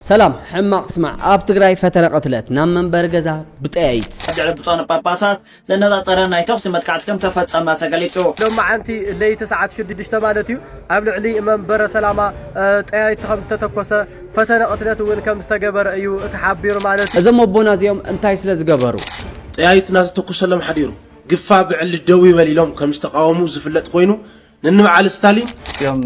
ሰላም ሕማቅ ስማዕ ኣብ ትግራይ ፈተነ ቅትለት ናብ መንበሪ ገዛ ብጠያይት። ኣብ ልዕሊ ብፁዓን ጳጳሳት ዘነጻጸረ ናይ ተኹሲ መጥቃዕቲ ከም ተፈጸመ ተገሊጹ። ሎማዕንቲ ለይቲ ሰዓት ሽድድሽተ ማለት እዩ ኣብ ልዕሊ መንበረ ሰላማ ጠያይት ከም ዝተተኮሰ ፈተነ ቅትለት እውን ከም ዝተገበረ እዩ ተሓቢሩ ማለት እዩ። እዞም ኣቦና እዚኦም እንታይ ስለ ዝገበሩ? ጠያይት እናተተኮሰሎም ሓዲሩ ግፋ ብዕሊ ደው ይበል ኢሎም ከም ዝተቓወሙ ዝፍለጥ ኮይኑ፣ ንንብዓል ስታሊን እዮም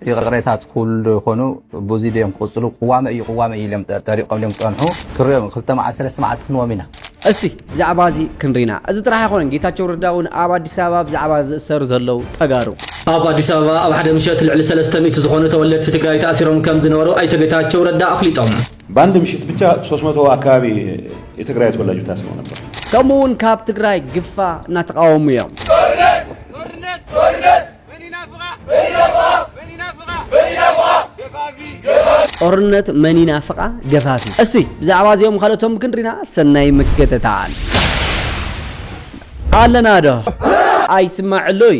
ይቕሬታ ትኽብሉ ዶ ይኾኑ ብዙይ ድዮም ክቕፅሉ ቅዋመ እዩ ቅዋመ እዩ ኢሎም ጠሪቖም ድዮም ክፀንሑ ክንሪኦም ክልተ መዓልቲ ሰለስተ መዓልቲ ክንዎም ኢና እስቲ ብዛዕባ እዚ ክንሪና። እዚ ጥራሕ ኣይኮነን ጌታቸው ረዳ እውን ኣብ ኣዲስ ኣበባ ብዛዕባ ዝእሰሩ ዘለው ተጋሩ። ኣብ ኣዲስ ኣበባ ኣብ ሓደ ምሸት ልዕሊ ሰለስተ ሚእቲ ዝኾኑ ተወለድቲ ትግራይ ተኣሲሮም ከምዝነበሩ ኣይተ ጌታቸው ረዳ ኣፍሊጦም። በኣንድ ምሽት ብቻ ሶስት መቶ ኣካባቢ የትግራይ ተወላጅ ታስረው ነበር። ከምኡ እውን ካብ ትግራይ ግፋ እናተቃወሙ እዮም። ጦርነት መን ይናፍቃ ገፋፊ። እስቲ ብዛዕባ እዚኦም ካልኦቶም ክንሪና ሰናይ ምክትታል ኣለና ዶ ኣይስማዕ ኣሎ እዩ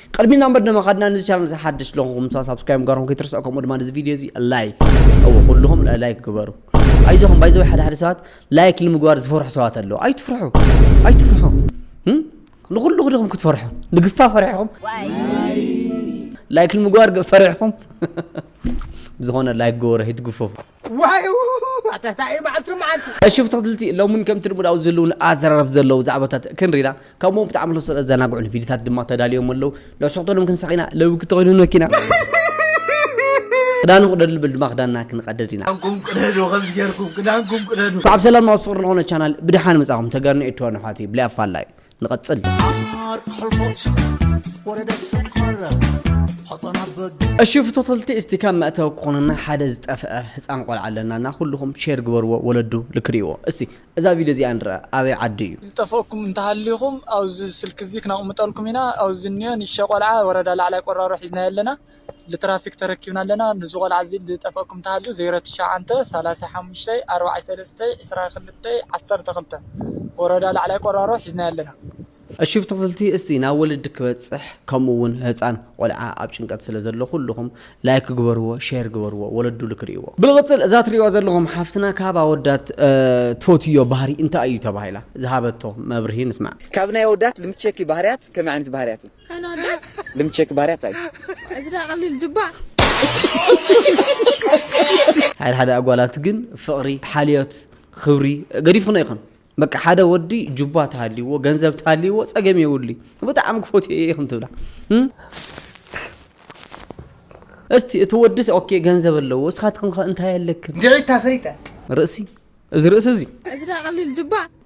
ቅድሚ ናብ መደመ ካድና ንዚ ቻናል እዚ ሓድሽ ለኹም ምሳ ሳብስክራይብ ምግባርኩም ከይትርስዑ ከምኡ ድማ ነዚ ቪድዮ እዚ ላይክ እዎ ኩልኹም ላይክ ግበሩ ኣይዞኹም ባይዘወይ ሓደ ሓደ ሰባት ላይክ ንምግባር ዝፈርሑ ሰባት ኣለዉ ኣይትፍርሑ ኣይትፍርሑ ንኹሉ ክድኹም ክትፈርሑ ንግፋ ፈሪሕኹም ላይክ ንምግባር ፈሪሕኹም ብዝኾነ ላይክ ግበሩ ኣይትግፈፉ ዋይውውውው ኣታ ታይ እዩ መዓልቲ መዓልቲ እሺ ተኸትልቲ ሎሚ እውን ከምቲ ልሙድ ኣብዚ ህልውን ኣዘራረብ ዘለዉ ዛዕባታት ክንሪና ከምኡ ብጣዕሚ ለሰ ዘናግዑን ቪድዮታት ድማ ተዳልዮም ኣለዉ ልዕስቕተሎም ክንሳቕ ኢና ለዊ ክተኾይኑ መኪና ክዳኑ ክደዱ ልብል ድማ ክዳንና ክንቀደድ ኢና ክዳንኩም ቅደዱ ከምዚ ጌርኩም ክዳንኩም ቅደዱ ካብ ሰላም ናብ ፍቅሪ ዝኾነ ቻናል ብድሓን መጻኹም ተገርኒ እትወን ኣሕዋተይ ብላይ ኣፋላይ ንቐጽል። እሺ ፍቶተልቲ እስቲ ከም መእተዊ ክኾነና ሓደ ዝጠፍአ ህፃን ቆልዓ ኣለና እና ኩልኹም ሼር ግበርዎ ወለዱ ልክሪእዎ እስቲ እዛ ቪድዮ እዚኣ ንርኣ ኣበይ ዓዲ እዩ ዝጠፈእኩም እንተሃሊኹም ኣብዚ ስልኪ እዚ ክነቕምጠልኩም ኢና ኣብዚ እንኦ ንእሽተይ ቆልዓ ወረዳ ላዕላይ ቆራሮ ሒዝናዮ ኣለና ልትራፊክ ተረኪብና ኣለና ንዚ ቆልዓ እዚ ልጠፈእኩም ተሃልዩ ዘይረ ትሽዓንተ ሰላሳ ሓሙሽተይ ኣርባዓይ ሰለስተይ ዕስራ ክልተይ ዓሰርተ ክልተ ወረዳ ላዕላይ ቆራሮ ሒዝናዮ ኣለና። እሺ ብትክልቲ እስቲ ናብ ወለዲ ክበፅሕ ከምኡ እውን ህፃን ቆልዓ ኣብ ጭንቀት ስለ ዘሎ ኩሉኩም ላይክ ግበርዎ ሼር ግበርዎ ወለዱ ልክሪእዎ። ብልቕፅል እዛ ትሪእዋ ዘለኹም ሓፍትና ካብ ኣወዳት ትፈትዮ ባህሪ እንታይ እዩ ተባሂላ ዝሃበቶ መብርሂ ንስማዕ። ካብ ናይ ኣወዳት ልምቼኪ ባህርያት ከመይ ዓይነት ባህርያት እዩ? ካናዳ ልምቸክ ባርያ ታይ እዚ ድኣ ቀሊል ጅባዕ። ሓደ ሓደ ኣጓላት ግን ፍቅሪ ሓልዮት ክብሪ ገዲፍክንኦ ኢክን በቃ ሓደ ወዲ ጁባ ተሃልይዎ ገንዘብ ተሃልይዎ ጸገም የብሉይ ብጣዕሚ ክፈትዮ እየ ኢክን ትብላ እስቲ እቲ ወዲስ ኦኬ ገንዘብ ኣለዎ እስኻትክን ከ እንታይ ኣለክን እንድዒታ ፈሪጠ ርእሲ እዚ ርእሲ እዚ እዚ ድኣ ቀሊል ጅባዕ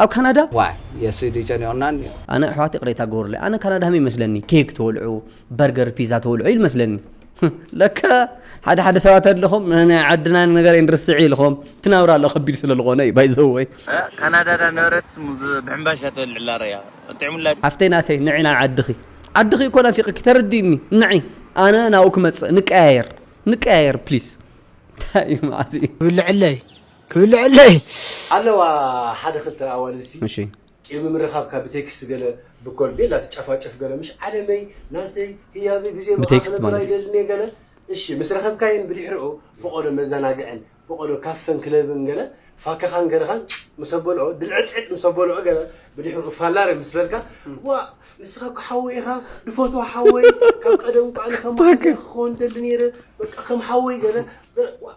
ኣብ ካናዳ። ዋይ የሱይ ድዩ ጨኒቁና እንዮ። ኣነ ኣሕዋት ይቅሬታ ግበሩለይ ኣነ ካናዳ ከመይ ይመስለኒ ኬክ ተወልዑ በርገር ፒዛ ተወልዑ ኢሉ መስለኒ ለካ ሓደ ሓደ ሰባት ኣለኹም ናይ ዓድና ነገር ንርስዕ ኢልኹም እቲ ናብራ ኣሎ ከቢድ ስለ ዝኾነ እዩ ባይዘወይ ካናዳ ዳ ነበረትስ ሙዝ ብሕምባሻ ተወልዕ ኣላ ረያ ጥዕሙላ ሓፍተይ ናተይ ንዒ ናብ ዓድኺ ዓድኺ እኮ ናፊቅኪ ተረዲእኒ ንዒ ኣነ ናብኡ ክመፅእ ንቀያየር ንቀያየር ፕሊስ እንታይ እዩ መዓዝ እዩ ዝብለዐለይ ክብልዐለይ። ኣለዋ ሓደ ክልተ ኣዋልድሲ እሺ። ቂም ብምርኻብካ ብቴክስት ገለ ብኮል ቤላ ትጨፋጨፍ ገለ ምሽ ዓለመይ ናተይ ህያበይ ብዘይ ብኣኻ ብቴክስት ክነብር ማለት እዩ። ኣይደልንየ ገለ እሺ ምስ ረኸብካየን ብድሕርኡ ፈቖዶ መዘናግዕን ፈቖዶ ካፈን ክለብን ገለ ፋከኻን ገለኻን ምስ ኣበልኦ ድልዕጽዕጽ ምስ ኣበልኦ ገለ ብድሕርኡ ፋላረ ምስ በልካ ዋእ ንስኻ እኮ ሓወይ ኢኻ ድፈትዎ ሓወይ ካብ ቀደም እኮ ኣነ ከማኻ ዘይክኸውን ደሊ ኔረ በቃ ከም ሓወይ ገለ ገለ ዋእ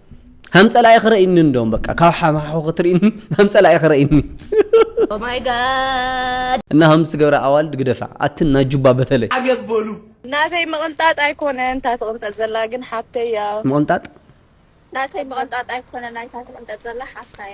ሃም ጸላኢ ክረኢኒ እንዶም በቃ ካብ ሓማሑ ክትርእኒ ሃም ጸላኢ ክረኢኒ ማይ ጋድ እና ሃም ዝትገብረ ኣዋልድ ግደፋ ኣቲ እና ጁባ በተለይ ኣገበሉ ናተይ ምቕንጣጥ ኣይኮነን እታ ትቕንጠጥ ዘላ ግን ሓብተይ እያ ምቕንጣጥ ናተይ ምቕንጣጥ ኣይኮነን እታ ትቕንጠጥ ዘላ ሓብታይ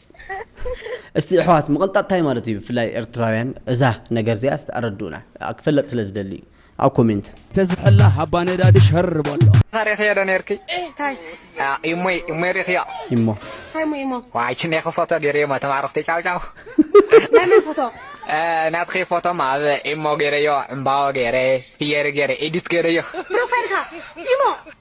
እስቲ ኣሕዋት ምቕንጣጥ እንታይ ማለት እዩ ብፍላይ ኤርትራውያን እዛ ነገር እዚኣ እስቲ ኣረድኡና ክፈለጥ ስለ ዝደሊ እዩ ኣብ ኮሜንት ተዝሕላ ሃባ ነዳዲ ሸር በሎ ሪክዮ ዶ ነርኪ ኢሞ ኢሞ ሪክዮ ኢሞ ታይ ሞ ኢሞ ዋይ ችኔኪ ፎቶ ገይረዮ ሞ ተማረክቲ ጫው ጫው ናይ መን ፎቶ ናትኺ ፎቶ ማ ኣብ ኢሞ ገይረዮ ዕምባዎ ገይረ ፍየሪ ገይረ ኤዲት ገይረዮ ፕሮፋይልካ ኢሞ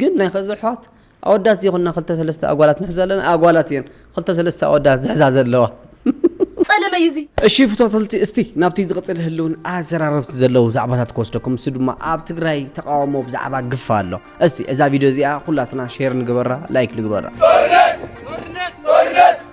ግን ናይ ኸዚ ኣሕዋት ኣወዳት ዘይኮና ክልተ ሰለስተ ኣጓላት ንሕዝ ኣለና ኣጓላት እየን ክልተ ሰለስተ ኣወዳት ዝሕዛ ዘለዋ። ጸለመ እዩ እዚ። እሺ ፍቶተልቲ እስቲ ናብቲ ዝቕጽል ህልውን ኣዘራረብቲ ዘለው ዛዕባታት ክወስደኩም ንሱ ድማ ኣብ ትግራይ ተቃውሞ ብዛዕባ ግፋ ኣሎ እስቲ እዛ ቪድዮ እዚኣ ኩላትና ሼር ንግበራ ላይክ ንግበራ።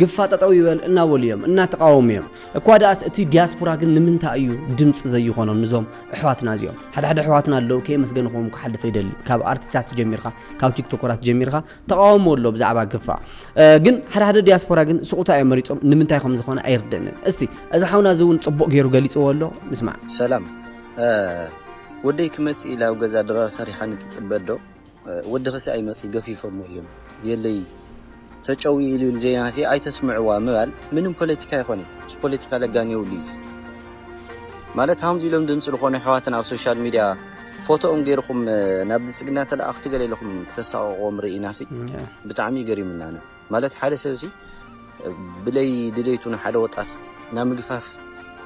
ግፋ ጠጠው ይበል እናበሉ እዮም እናተቃወሙ እዮም እኳ ደኣስ እቲ ዲያስፖራ ግን ንምንታይ እዩ ድምፂ ዘይኾኖም ንዞም ኣሕዋትና እዚኦም ሓደ ሓደ ኣሕዋትና ኣለዉ ከየመስገንኹም ክሓልፍ ይደሊ ካብ ኣርቲስታት ጀሚርካ ካብ ቲክቶከራት ጀሚርካ ተቃወሞ ኣሎ ብዛዕባ ግፋ ግን ሓደ ሓደ ዲያስፖራ ግን ስቁታ እዮም መሪፆም ንምንታይ ከም ዝኾነ ኣይርደንን እስቲ እዚ ሓውና እዚ እውን ፅቡቅ ገይሩ ገሊፅዎ ኣሎ ምስማዕ ሰላም ወደይ ክመፅእ ኢላ ኣብ ገዛ ድራር ሰሪሓ ንትፅበ ዶ ወዲ ክሳይ መጽ ገፊፎሞ እዮም የለይ ተጨው ኢሉ ኢሉ ዜናሲ ኣይተስምዕዋ ምባል ምንም ፖለቲካ ኣይኮነይ ምስ ፖለቲካ ለጋን የብሉ ኢዚ ማለት ሃምዚ ኢሎም ድምጺ ልኮኑ ኣሕዋትና ኣብ ሶሻል ሚድያ ፎቶኦም ጌርኩም ናብ ብልጽግና ተላኣክቲ ገለ ኢልኩም ክተሳቅቅዎም ሪኢናሲ ብጣዕሚ እዩ ገሪሙና ኣነ። ማለት ሓደ ሰብሲ ብለይ ድሌቱ ንሓደ ወጣት ናብ ምግፋፍ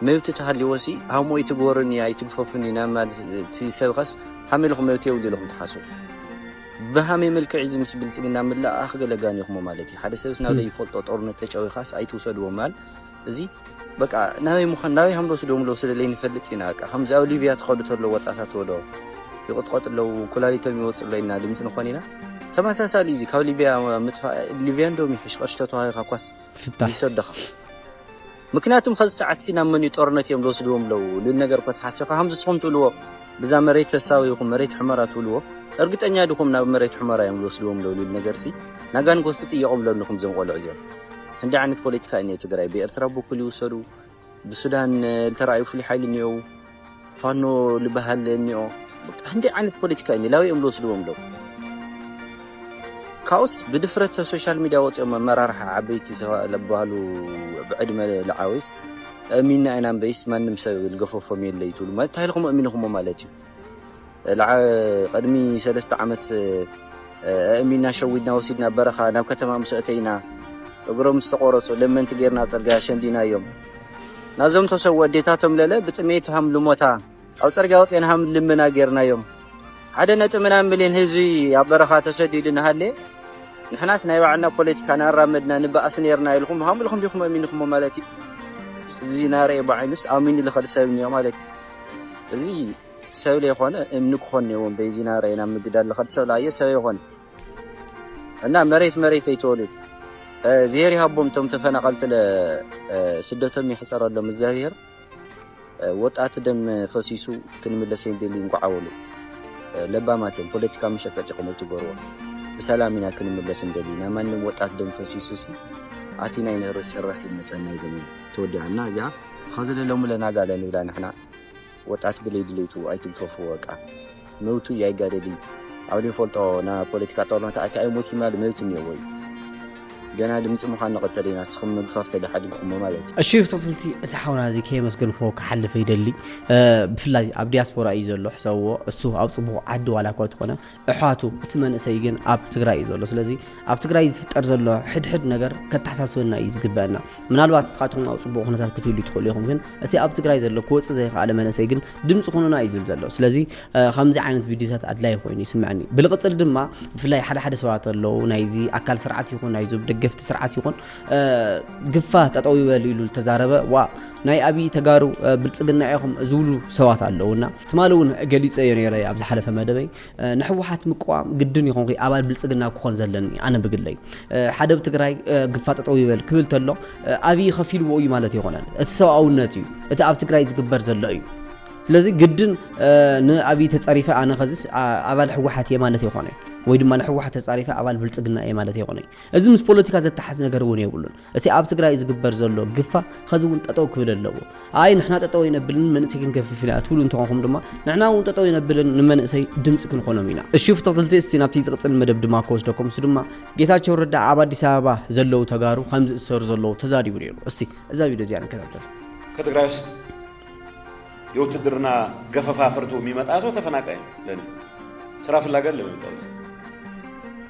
መብቲ ተሃልይዎሲ ሃሞ ይትግበሩኒ ኣይትግፈፉኒ ናብ ማለት እቲ ሰብኸስ ሃመ ኢልኹም መብቲ የብሉ ኢልኹም ትሓስቡ ብሃመይ መልክዕ እዚ ምስ ብልፅግና ምልእኣኽ ገለ ጋኒኹሞ ማለት እዩ ሓደ ሰብስ ናብ ለይፈልጦ ጦርነት ተጨዊኻስ ኣይትውሰድዎ ማል እዚ በቃ ናበይ ምዃን ናበይ ሃም ልወስዶም ኣለዉ ስለ ለይንፈልጥ ኢና በቃ ከምዚ ኣብ ሊብያ ትኸዱ ተሎ ወጣታት ወዶ ይቕጥቐጡ ኣለዉ ኩላሊቶም ይወጽእ ኣሎ ኢልና ድምጺ ንኾን ኢና ተመሳሳሊ እዚ ካብ ሊብያ ምጥፋእ ሊብያ እንዶም ይሕሽ ቐርሺ ተተዋሂኻ ኳስ ፍታሕ ይሰደኻ ምክንያቱም ከዚ ሰዓት ሲ ናብ መንዩ ጦርነት እዮም ልወስድዎም ኣለዉ ልል ነገር እኮ ተሓሲኻ ከምዚ ስኹም ትብልዎ ብዛ መሬት ተሳዊኹም መሬት ሕመራ ትብልዎ እርግጠኛ ዲኹም ናብ መሬት ሕመራ እዮም ልወስድዎም ኣለዉ ልል ነገር ሲ ናጋን ክወስዱ ጥየቖም ለንኹም ዘም ቆልዑ እዚኦም ክንደይ ዓይነት ፖለቲካ እዩ እኒኦ ትግራይ ብኤርትራ ብኩል ይውሰዱ ብሱዳን ዝተረኣዩ ፍሉይ ሓይሊ እኒኦው ፋኖ ዝበሃል እኒኦ ክንደይ ዓይነት ፖለቲካ እዩ ላበይ እዮም ዝወስድዎም ኣለዉ ካብኡስ ብድፍረት ሶሻል ሚዲያ ወፂኦም መመራርሒ ዓበይቲ ዝበሃሉ ብዕድመ ልዓዊስ እሚና ኢና እምበይስ ማንም ሰብ ዝገፈፎም የለ እዩ ትብሉ ማለት እንታይ ኢልኩም እሚንኹሞ ማለት እዩ ቅድሚ ሰለስተ ዓመት ኣእሚና ሸዊድና ወሲድና በረኻ ናብ ከተማ ምስ ኣተይና እግሮም ዝተቖረፁ ለመንቲ ጌርና ፅርግያ ሸንዲናዮም ናዞም ተሰዉ ኣዴታቶም ለለ ብጥሜት ሃም ልሞታ ኣብ ፅርግያ ወፅና ሃም ልመና ጌርናዮም ሓደ ነጥ ምናብ ሚሊዮን ህዝቢ ኣብ በረኻ ተሰዲዱ ንሃለ ንሕናስ ናይ ባዕልና ፖለቲካ ናራመድና ንበኣስ ነርና ኢልኩም ሃም ኢልኩም ዲኹም ኣሚንኹሞ ማለት እዩ እዚ ናርኤ ብዓይኑስ ኣሚኑ ልኸድ ሰብ እኒኦ ማለት እዩ እዚ ሰብ ለይኮነ እምኒ ክኾን ነይዎም በይዚ ናብራይ ናብ ምግዳል ልኸድ ሰብ ለኣየ ሰብ ኣይኾነ እና መሬት መሬት ኣይተወልዩ እዝሄር ይሃቦም እቶም ተፈናቐልቲ ስደቶም ይሕፀረሎም እዝኣብሄር ወጣት ደም ፈሲሱ ክንምለስ የንደሊ እንኳዓወሉ ለባማት እዮም ፖለቲካ መሸቀጢ ከም ትገርዎ ብሰላም ኢና ክንምለስ እንደሊ ናይ ማንም ወጣት ደም ፈሲሱ ሲ ኣቲ ናይ ንርስ ራስ መፀና ይገመ ተወዲዓና እዚኣ ኸዚ ለሎሚ ለና ጋለ ንብላ ንሕና ወጣት ብለይ ድሌቱ ኣይትግፈፉ ወቃ መውቱ እይ ኣይጋደሊ ኣብ ልንፈልጦ ና ፖለቲካ ጦርነት ኣቲ ኣይሞት ይማል መውት እኔዎ እዩ ገና ድምፂ ምዃን ንቐፀል ኢና ስኹም ምግፋፍ ተደሓዲግኹሞ ማለት እዩ። እሺ ብትቕፅልቲ እዚ ሓውና እዚ ከየመስገንክዎ ክሓልፍ ይደሊ ብፍላይ ኣብ ዲያስፖራ እዩ ዘሎ ሕሰብዎ እሱ ኣብ ፅቡቕ ዓዲ ዋላ እኳ ተኾነ እሕዋቱ እቲ መንእሰይ ግን ኣብ ትግራይ እዩ ዘሎ ስለዚ ኣብ ትግራይ ዝፍጠር ዘሎ ሕድሕድ ነገር ከተሓሳስበና እዩ ዝግበአና ምናልባት ንስኻትኩም ኣብ ፅቡቅ ኩነታት ክትህሉ ትኽእሉ ኢኹም ግን እቲ ኣብ ትግራይ ዘሎ ክወፅእ ዘይከኣለ መንእሰይ ግን ድምፂ ኩኑና እዩ ዝብል ዘሎ ስለዚ ከምዚ ዓይነት ቪድዮታት ኣድላይ ኮይኑ ይስምዐኒ ብልቕፅል ድማ ብፍላይ ሓደ ሓደ ሰባት ኣለዉ ናይዚ ኣካል ስርዓት ይኹን ናይዞም ደገፍቲ ስርዓት ይኹን ግፋ ጠጠው ይበል ኢሉ ዝተዛረበ ዋ ናይ ኣብዪ ተጋሩ ብልፅግና ኢኹም ዝብሉ ሰባት ኣለውና ትማሊ እውን ገሊፀ እዮ ነረ ኣብ ዝሓለፈ መደበይ ንሕወሓት ምቅዋም ግድን ይኹን ኣባል ብልፅግና ክኾን ዘለኒ ኣነ ብግለይ ሓደ ብ ትግራይ ግፋ ጠጠው ይበል ክብል ተሎ ኣብዪ ከፊልዎ እዩ ማለት ይኮነን እቲ ሰብኣውነት እዩ እቲ ኣብ ትግራይ ዝግበር ዘሎ እዩ ስለዚ ግድን ንኣብዪ ተፀሪፈ ኣነ ከዚስ ኣባል ሕወሓት እየ ማለት ይኮነ ወይ ድማ ንሕወሓት ተፃሪፈ ኣባል ብልፅግና እየ ማለት ይኮነ እዚ ምስ ፖለቲካ ዘተሓዝ ነገር እውን የብሉን። እቲ ኣብ ትግራይ ዝግበር ዘሎ ግፋ ኸዚ እውን ጠጠው ክብል ኣለዎ። ኣይ ንሕና ጠጠው ኣይነብልን መንእሰይ ክንገፍፍ ኢና ትብሉ እንተኾንኩም ድማ ንሕና እውን ጠጠው ኣይነብልን ንመንእሰይ ድምፂ ክንኾኖም ኢና። እሺ ፍተኽትልቲ እስቲ ናብቲ ዝቕፅል መደብ ድማ ክወስደኩም እሱ ድማ ጌታቸው ረዳ ኣብ ኣዲስ ኣበባ ዘለው ተጋሩ ከም ዝእሰሩ ዘለው ተዛሪቡ ነይሩ። እስቲ እዛ ቪድዮ እዚኣ ንከታተል። ከትግራይ ውስጥ የውትድርና ገፈፋ ፈርቶ የሚመጣ ሰው ተፈናቃይ ነው። ለእኔ ስራ ፍላጋ ለመጣ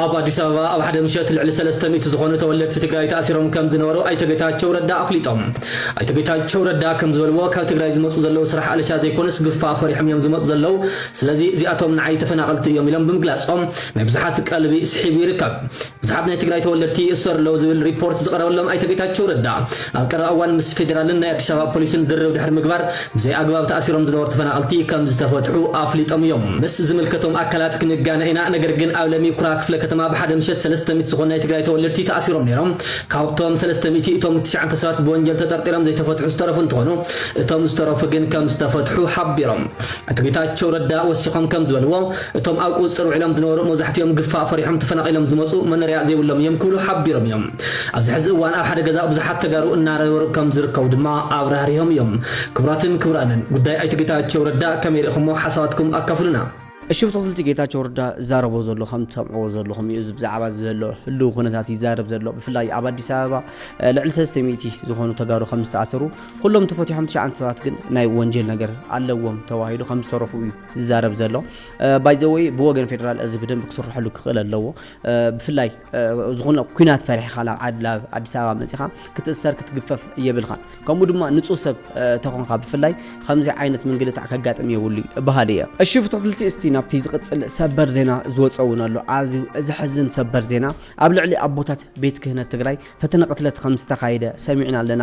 ኣብ ኣዲስ ኣበባ ኣብ ሓደ ምሸት ልዕሊ ሰለስተ ሚእቲ ዝኾኑ ተወለድቲ ትግራይ ተኣሲሮም ከምዝነበሩ ኣይተ ጌታቸው ረዳ ኣፍሊጦም። ኣይተ ጌታቸው ረዳ ከምዝበልዎ ካብ ትግራይ ዝመፁ ዘለው ስራሕ ኣለሻ ዘይኮኑስ ግፋ ፈሪሖም እዮም ዝመፁ ዘለው ስለዚ እዚኣቶም ንዓይ ተፈናቐልቲ እዮም ኢሎም ብምግላፆም ናይ ብዙሓት ቀልቢ ስሒቡ ይርከብ። ብዙሓት ናይ ትግራይ ተወለድቲ ይእሰሩ ኣለው ዝብል ሪፖርት ዝቐረበሎም ኣይተ ጌታቸው ረዳ ኣብ ቀረባ እዋን ምስ ፌዴራልን ናይ ኣዲስ ኣበባ ፖሊስን ዝርርብ ድሕሪ ምግባር ብዘይ ኣግባብ ተኣሲሮም ዝነበሩ ተፈናቐልቲ ከምዝተፈትሑ ኣፍሊጦም እዮም። ምስ ዝምልከቶም ኣካላት ክንጋነ ኢና ነገር ግን ኣብ ለሚ ኩራ ክፍለ ከተማ ብሓደ ምሸት ሰለስተ ሚእቲ ዝኾኑ ናይ ትግራይ ተወለድቲ ተኣሲሮም ነይሮም። ካብቶም ሰለስተ ሚእቲ እቶም ትሽዓተ ሰባት ብወንጀል ተጠርጢሮም ዘይተፈትሑ ዝተረፉ እንትኾኑ እቶም ዝተረፉ ግን ከምዝተፈትሑ ሓቢሮም። ኣቶ ጌታቸው ረዳ ወሲኾም ከምዝበልዎ እቶም ኣብ ቁፅፅር ውዒሎም ዝነበሩ መብዛሕቲኦም ግፋ ፈሪሖም ተፈናቒሎም ዝመፁ መኖሪያ ዘይብሎም እዮም ክብሉ ሓቢሮም እዮም። ኣብዚ ሐዚ እዋን ኣብ ሓደ ገዛ ብዙሓት ተጋሩ እናነበሩ ከምዝርከቡ ድማ ኣብራህሪሆም እዮም። ክቡራትን ክቡራንን ጉዳይ ኣይተ ጌታቸው ረዳ ከመይ ሪእኹሞ ሓሳባትኩም ኣካፍሉና። እሺ ብትክልቲ ጌታቸው ረዳ ዝዛረቦ ዘሎ ከም ትሰምዕዎ ዘለኹም እዩ እዚ ብዛዕባ ዘሎ ህልው ኩነታት ይዛረብ ዘሎ ብፍላይ ኣብ ኣዲስ ኣበባ ልዕሊ ሰለስተ ሚእቲ ዝኾኑ ተጋሩ ከም ዝተኣሰሩ ኩሎም ተፈቲሖም ትሽዓንተ ሰባት ግን ናይ ወንጀል ነገር ኣለዎም ተባሂሉ ከም ዝተረፉ እዩ ዝዛረብ ዘሎ ባይዘወይ ብወገን ፌደራል እዚ ብደንብ ክስርሐሉ ክኽእል ኣለዎ ብፍላይ ዝኾነ ኩናት ፈሪሕኻ ናብ ዓድ ናብ ኣዲስ ኣበባ መፂኻ ክትእሰር ክትግፈፍ የብልኻን ከምኡ ድማ ንፁህ ሰብ ተኾንካ ብፍላይ ከምዚ ዓይነት ምንግልታዕ ከጋጥም የብሉ በሃሊ እየ እሺ ፍትክትልቲ እስቲ ናብቲ ዝቕፅል ሰበር ዜና ዝወፀ እውን ኣሎ ኣዝዩ ዘሕዝን ሰበር ዜና ኣብ ልዕሊ ኣቦታት ቤት ክህነት ትግራይ ፈተነ ቅትለት ከም ዝተኻየደ ሰሚዕና ኣለና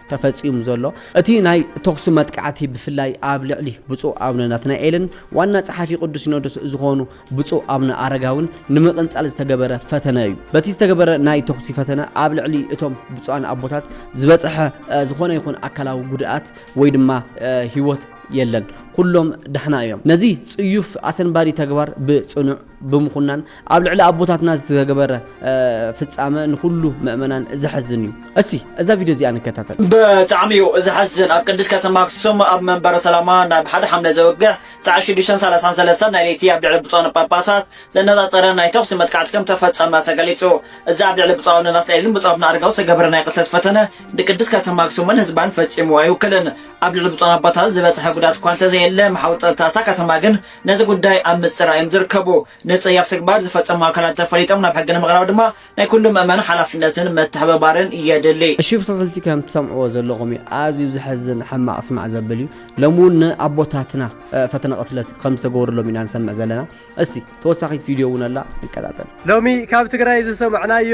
ተፈጺሙ ዘሎ። እቲ ናይ ተኹሲ መጥቃዕቲ ብፍላይ ኣብ ልዕሊ ብፁዕ ኣቡነ ናትናኤልን ዋና ጸሓፊ ቅዱስ ሲኖዶስ ዝኾኑ ብፁዕ ኣቡነ ኣረጋውን ንምቕንጻል ዝተገበረ ፈተነ እዩ። በቲ ዝተገበረ ናይ ተኹሲ ፈተነ ኣብ ልዕሊ እቶም ብፁዓን ኣቦታት ዝበጽሐ ዝኾነ ይኹን ኣካላዊ ጉድኣት ወይ ድማ ህይወት የለን። ኩሎም ዳሕና እዮም። ነዚ ጽዩፍ ኣሰንባዲ ተግባር ብጽኑዕ ብምኹናን ኣብ ልዕሊ ኣቦታትና ዝተገበረ ፍጻመ ንኹሉ ምእመናን ዘሕዝን እዩ። እስቲ እዛ ቪድዮ እዚኣ ንከታተል። ብጣዕሚ እዩ ዘሕዝን ኣብ ቅድስ ከተማ ኣክሱም ኣብ መንበረ ሰላማ ናብ ሓደ ሓምለ ዘወግሕ ሰዓት ሽዱሽተን ሰላሳን ሰለስተን ናይ ለይቲ ኣብ ልዕሊ ብፁዓን ጳጳሳት ዘነጻጸረ ናይ ተኹሲ መጥቃዕቲ ከም ተፈጸመ ተገሊጹ። እዚ ኣብ ልዕሊ ብፁዕ ኣቡነ ናትናኤልን ብፁዕ ኣቡነ ኣረጋዊ ዝተገበረ ናይ ቅትለት ፈተነ ንቅድስ ከተማ ኣክሱምን ህዝባን ፈጺሙ ኣይውክልን። ኣብ ልዕሊ ብፁዓን ኣቦታት ዝበጽሐ ጉድኣት እኳ እንተዘየለ መሓውር ጸጥታ እታ ከተማ ግን ነዚ ጉዳይ ኣብ ምጽራይ እዮም ዝርከቡ። ንጸያፍ ተግባር ዝፈጸሙ ኣካላት ተፈሊጦም ናብ ሕጊ ንምቕራብ ድማ ናይ ኩሉ ምእመን ሓላፍነትን ምትሕብባርን የድሊ። እሺ ብትክልቲ ከም ትሰምዕዎ ዘለኩም እዩ ኣዝዩ ዘሕዝን ሕማቅ ስማዕ ዘብል እዩ ሎሚ ውን ን ኣቦታትና ፈተነ ቅትለት ከም ዝተገበረሎም ኢና ንሰምዕ ዘለና እስቲ ተወሳኪት ቪድዮ ውን ኣላ ንከታተል። ሎሚ ካብ ትግራይ ዝሰማዕናዮ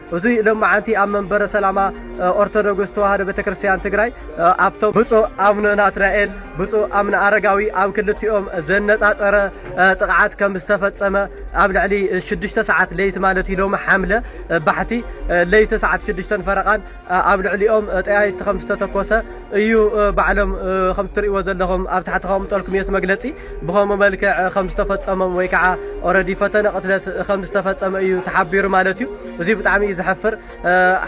እዙይ ሎማዓንቲ ኣብ መንበረ ሰላማ ኦርቶዶግስ ተዋህዶ ቤተክርስትያን ትግራይ ኣብቶም ብፁዕ ኣቡነ ናትናኤል ብፁዕ ኣቡነ ኣረጋዊ ኣብ ክልቲኦም ዘነፃፀረ ጥቕዓት ከም ዝተፈፀመ ኣብ ልዕሊ ሽዱሽተ ሰዓት ለይቲ ማለት እዩ ሎሚ ሓምለ ባሕቲ ለይቲ ሰዓት ሽዱሽተን ፈረቓን ኣብ ልዕሊኦም ጠያይቲ ከም ዝተተኮሰ እዩ ባዕሎም ከም እትርእይዎ ዘለኹም ኣብ ታሕቲ ከቕምጠልኩም እየ እቲ መግለጺ ብኸምኡ መልክዕ ከም ዝተፈጸሞም ወይ ከዓ ኦረዲ ፈተነ ቅትለት ከም ዝተፈጸመ እዩ ተሓቢሩ ማለት እዩ እዚ ብጣዕሚ እዩ ዘሕፍር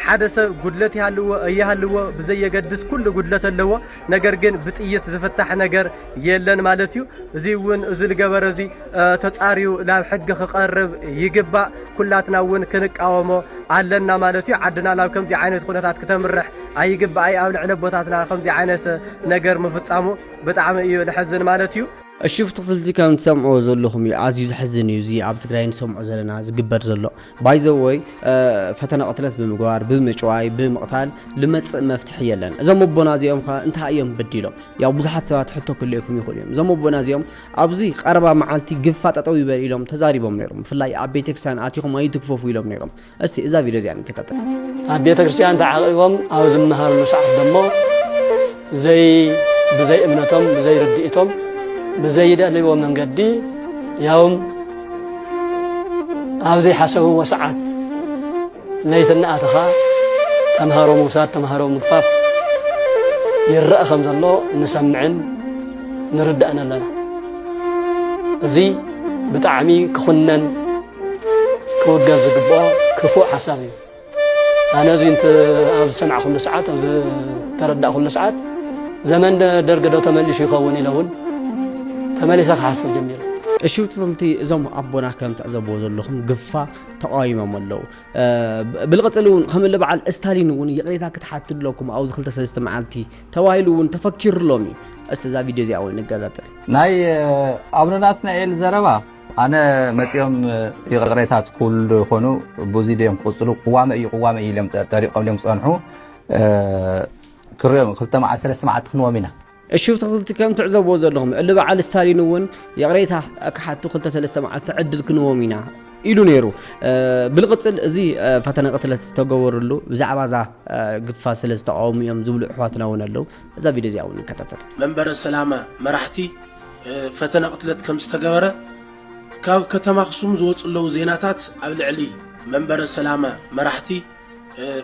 ሓደ ሰብ ጉድለት ይሃልዎ እይሃልዎ ብዘየገድስ ኩሉ ጉድለት ኣለዎ ነገር ግን ብጥይት ዝፍታሕ ነገር የለን ማለት እዩ። እዚ እውን እዚ ዝገበረ እዚ ተጻርዩ ናብ ሕጊ ክቐርብ ይግባእ። ኩላትና እውን ክንቃወሞ ኣለና ማለት እዩ። ዓድና ናብ ከምዚ ዓይነት ኩነታት ክተምርሕ ኣይግባኣይ። ኣብ ልዕሊ ኣቦታትና ከምዚ ዓይነት ነገር ምፍጻሙ ብጣዕሚ እዩ ልሕዝን ማለት እዩ። እሺ ፍትፍልቲ ከም ትሰምዕዎ ዘለኹም እዩ ኣዝዩ ዘሕዝን እዩ እዚ ኣብ ትግራይ ንሰምዖ ዘለና ዝግበር ዘሎ ባይዘወይ ፈተነ ቅትለት ብምግባር ብምጭዋይ ብምቕታል ልመፅእ መፍትሒ የለን እዞም ኣቦና እዚኦም ከ እንታይ እዮም በዲሎም ያው ብዙሓት ሰባት ሕቶ ክልእኩም ይኽእሉ እዮም እዞም ኣቦና እዚኦም ኣብዚ ቀረባ መዓልቲ ግፋ ጠጠው ይበል ኢሎም ተዛሪቦም ነይሮም ብፍላይ ኣብ ቤተክርስትያን ኣቲኹም ኣይትግፈፉ ኢሎም ነይሮም እስቲ እዛ ቪድዮ እዚኣ ንከታተል ኣብ ቤተክርስትያን ተዓቂቦም ኣብ ዝመሃርሉ ሰዓት ደሞ ዘይ ብዘይ እምነቶም ብዘይ ርድኢቶም ብዘይደልዎ መንገዲ ያውም ኣብ ዘይሓሰብዎ ሰዓት ለይቲ እናኣተኻ ተምሃሮ ምውሳድ ተምሃሮ ምግፋፍ ይረአ ከም ዘሎ ንሰምዕን ንርዳእን ኣለና እዚ ብጣዕሚ ክኹነን ክውገዝ ዝግብኦ ክፉእ ሓሳብ እዩ ኣነ እዚ እንት ኣብ ዝሰማዕኩሉ ሰዓት ኣብ ዝተረዳእኩሉ ሰዓት ዘመን ደርጊ ዶ ተመሊሱ ይኸውን ኢለ እውን ተመሊሰ ክሓስብ ጀሚረ። እሽውትልቲ እዞም ኣቦና ከም ትዕዘብዎ ዘለኹም ግፋ ተቃዊሞም ኣለዉ ብልቕፅል እውን ከም እለ በዓል እስታሊን እውን ይቕሬታ ክትሓት ኣለኩም ኣብዚ ክልተ ሰለስተ መዓልቲ ተባሂሉ እውን ተፈኪሩሎም እዩ እስቲ እዛ ቪድዮ እዚኣ ወይ ንገዛጥል ናይ ኣቡነ ናትናኤል ዘረባ ኣነ መጺኦም ይቕሬታት ክብሉ ዶ ይኾኑ ብዙይ ድዮም ክቕፅሉ ቅዋመ እዩ ቅዋመ እዩ ኢሎም ጠሪቆም ድዮም ክፀንሑ ክሪኦም ክልተ መዓልቲ ሰለስተ መዓልቲ ክንዎም ኢና እሹፍትኽቲ ከም ትዕዘብዎ ዘለኹም እሊ በዓል ስታሊን እውን ይቕሬታ ክሓቱ ክልተ ሰለስተ መዓልቲ ዕድል ክንዎም ኢና ኢሉ ነይሩ ብልቕፅል እዚ ፈተነ ቅትለት ዝተገበርሉ ብዛዕባ እዛ ግፋ ስለ ዝተቃወሙ እዮም ዝብሉ ኣሕዋትና እውን ኣለው እዛ ቪድዮ እዚኣ እውን ንከታተል መንበረ ሰላማ መራሕቲ ፈተነ ቅትለት ከም ዝተገበረ ካብ ከተማ ኣኽሱም ዝወፁ ኣለዉ ዜናታት ኣብ ልዕሊ መንበረ ሰላማ መራሕቲ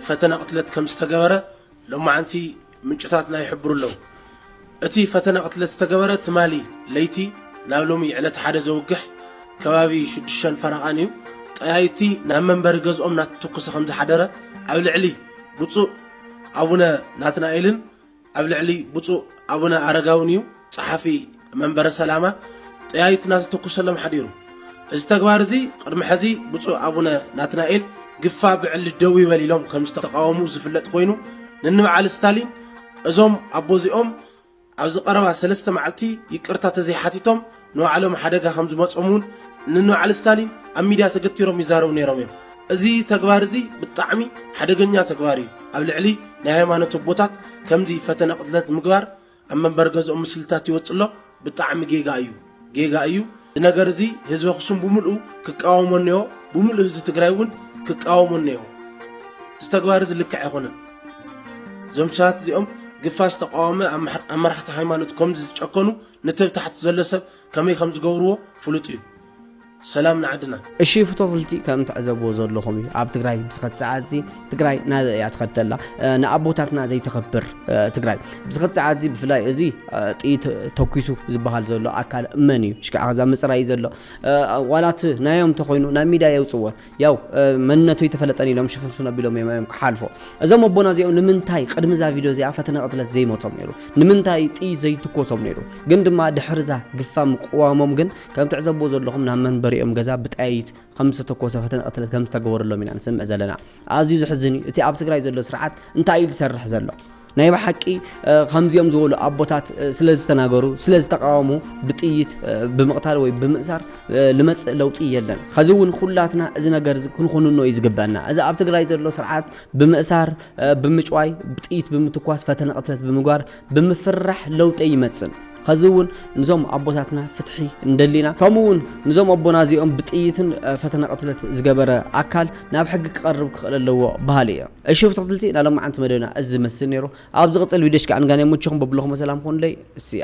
ፈተነ ቅትለት ከም ዝተገበረ ሎማዓንቲ ምንጭታትና ይሕብሩ ኣለዉ እቲ ፈተነ ቅትለት ዝተገበረ ትማሊ ለይቲ ናብ ሎሚ ዕለት ሓደ ዘውግሕ ከባቢ ሽዱሽተን ፈረቓን እዩ ጠያይቲ ናብ መንበሪ ገዝኦም ናተተኮሰ ከም ዝሓደረ ኣብ ልዕሊ ብፁእ ኣቡነ ናትናኤልን ኣብ ልዕሊ ብፁዕ ኣቡነ ኣረጋውን እዩ ጸሓፊ መንበረ ሰላማ ጠያይት እናተተኩሰሎም ሓዲሩ። እዚ ተግባር እዚ ቅድሚ ሕዚ ብፁዕ ኣቡነ ናትናኤል ግፋ ብዕሊ ደው ይበል ኢሎም ከም ዝተቃወሙ ዝፍለጥ ኮይኑ ንንበዓል ስታሊን እዞም ኣቦዚኦም ኣብዚ ቀረባ ሰለስተ መዓልቲ ይቅርታ ተዘይሓቲቶም ንባዕሎም ሓደጋ ከም ዝመጾም እውን ንንባዕሊ ስታሊን ኣብ ሚድያ ተገቲሮም ይዛረቡ ነይሮም እዮም። እዚ ተግባር እዚ ብጣዕሚ ሓደገኛ ተግባር እዩ። ኣብ ልዕሊ ናይ ሃይማኖት ኣቦታት ከምዚ ፈተነ ቅትለት ምግባር ኣብ መንበሪ ገዝኦም ምስልታት ይወጽእ ኣሎ። ብጣዕሚ ጌጋ እዩ ጌጋ እዩ። እዚ ነገር እዚ ህዝቢ ኣኽሱም ብምልኡ ክቃወሞ እኒኦ፣ ብምልኡ ህዝቢ ትግራይ እውን ክቃወሞ እኒኦ። እዚ ተግባር እዚ ልክዕ ኣይኮነን። እዞም ሰባት እዚኦም ግፋ ዝተቃወመ ኣብ መራሕቲ ሃይማኖት ከምዚ ዝጨከኑ ነቲ ኣብ ታሕቲ ዘሎ ሰብ ከመይ ከም ዝገብርዎ ፍሉጥ እዩ ሰላም ንዓድና። እሺ ፍቶፍልቲ ከም ትዕዘብዎ ዘለኹም እዩ ኣብ ትግራይ ብስኸት ሰዓትዚ ትግራይ ናበይ እያ ትኸድ ዘላ ንኣቦታትና ዘይተኸብር ትግራይ ብስኸት ሰዓትዚ ብፍላይ እዚ ጥይት ተኪሱ ዝበሃል ዘሎ ኣካል መን እዩ ሽካዕ ከዛ ምፅራይ እዩ ዘሎ ዋላት ናዮም ተኮይኑ ናብ ሚድያ የውፅዎ ያው መንነቱ ኣይተፈለጠን ኢሎም ሽፍንፍን ኣቢሎም እዮም እዮም ክሓልፎ እዞም ኣቦና እዚኦም ንምንታይ ቅድሚ እዛ ቪድዮ እዚኣ ፈተነ ቅትለት ዘይመፆም ነይሩ ንምንታይ ጥይት ዘይትኮሶም ነይሩ ግን ድማ ድሕሪ እዛ ግፋ ምቅዋሞም ግን ከም ትዕዘብዎ ዘለኹም ናብ መንበሪኦም ገዛ ብጣይት ከም ዝተተኮሰ ፈተነ ቅትለት ከም ዝተገበረሎም ኢና ንስምዕ ዘለና ኣዝዩ ዝሕዝን እዩ እቲ ኣብ ትግራይ ዘሎ ስርዓት እንታይ እዩ ዝሰርሕ ዘሎ ናይ ብሓቂ ከምዚኦም ዝበሉ ኣቦታት ስለ ዝተናገሩ ስለ ዝተቃወሙ ብጥይት ብምቕታል ወይ ብምእሳር ልመፅእ ለውጢ የለን። ከዚ እውን ኩላትና እዚ ነገር ክንኹንኖ እዩ ዝግበና። እዚ ኣብ ትግራይ ዘሎ ስርዓት ብምእሳር፣ ብምጭዋይ፣ ብጥይት ብምትኳስ፣ ፈተነ ቅትለት ብምግባር፣ ብምፍርራሕ ለውጢ ኣይመፅን። ከዚ እውን ንዞም ኣቦታትና ፍትሒ እንደሊና ከምኡ እውን ንዞም ኣቦና እዚኦም ብጥይትን ፈተነ ቅትለት ዝገበረ ኣካል ናብ ሕጊ ክቐርብ ክኽእል ኣለዎ በሃሊ እየ። እሺ ብትክትልቲ ናይ ሎማዓንቲ መደብና እዚ ዝመስል ነይሩ ኣብ ዝቅፅል ቪድዮ እስኪ ኣንጋን የሙችኹም በብለኹሞ ሰላም ኹኑለይ እስያ